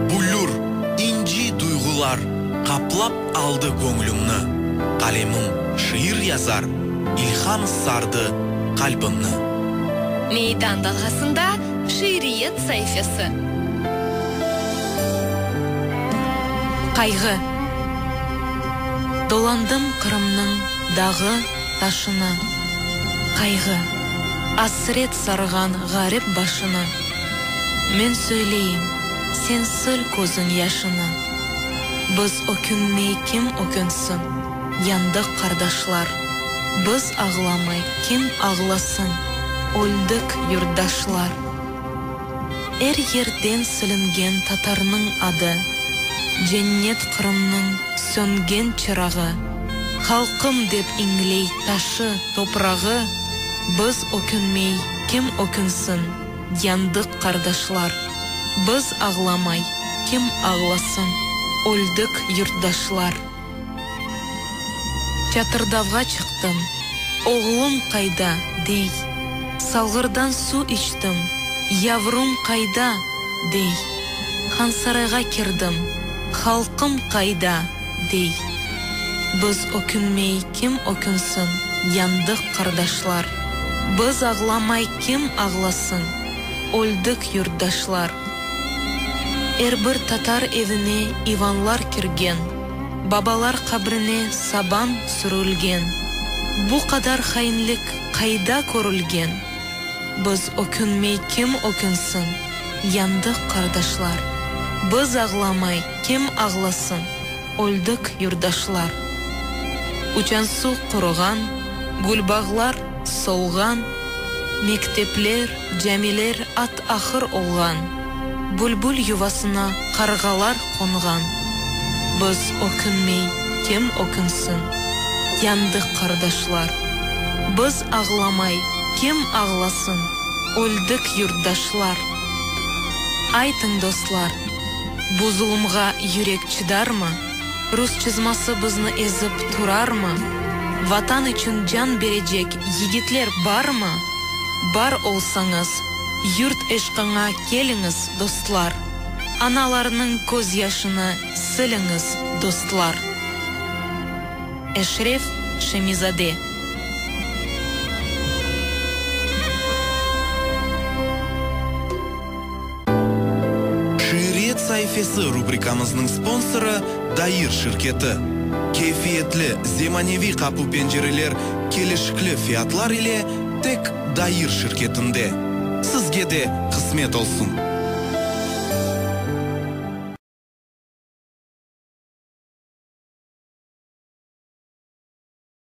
Büllür, inci duyğular qaplap aldı göñlümni, Qalemim şiir yazar, ilham sardı qalbimni. Meydan dalğasında şiiriyet saifesi. Qayğı. Dolandım Qırımnıñ. Dağı, taşını, qayğı, asret sarğan ğarip başını, Men söyleyim, sen sil közün yaşını. Biz ökünmey kim ökünsin, yandıq qardaşlar, Biz ağlamay kim ağlasın, öldik yurtdaşlar. Er yerden silingen tatarnıñ adı, Cennet Qırımnıñ söngen çırağı, Halqım dep iñley taşı, toprağı, Biz ökünmey, kim ökünsin, yandıq qardaşlar, Biz ağlamay, kim ağlasın, öldük yurtdaşlar. Çatırdavğa çıqtım, oğlum qayda, dey. Salğırdan suv içtim, yavrum qayda, dey. Hansarayğa kirdim, halqım qayda, dey. Biz ökünmey kim ökünsin, yandıq qardaşlar. Biz ağlamay kim ağlasın. Öldik, yurtdaşlar! Er bir tatar evine ivanlar kirgen, babalar qabrine saban sürülgen. Bu qadar hainlik qayda körülgen? Biz ökünmey kim ökünsin? Yandıq, qardaşlar! Biz ağlamay kim ağlasın? Öldik, yurtdaşlar! Uçan suv quruğan, gülbağlar. solğan, Mektepler, camiler at-ahır olğan, Bülbül yuvasına qarğalar qonğan. Biz ökünmey, kim ökünsin? Yandıq qardaşlar. Biz ağlamay, kim ağlasın? Öldik yurtdaşlar. Aytıñ, dostlar, Bu zulumğa yürek çıdarmı? Rus çızması bizni ezip turarmı? Vatan içün can berecek yigitler barmı? Bar olsañız, yurt eşqıña keliñiz, dostlar! Analarnıñ köz yaşını siliñiz, dostlar! Eşref Şemizade. Şiiriyet saifesi rubrikamıznıñ sponsorı, Dair şirketi. Keyfiyetli, zemaneviy qapu-pencereler kelişikli fiyatlar ile tek Dair şirketinde. Sizge de qısmet olsun!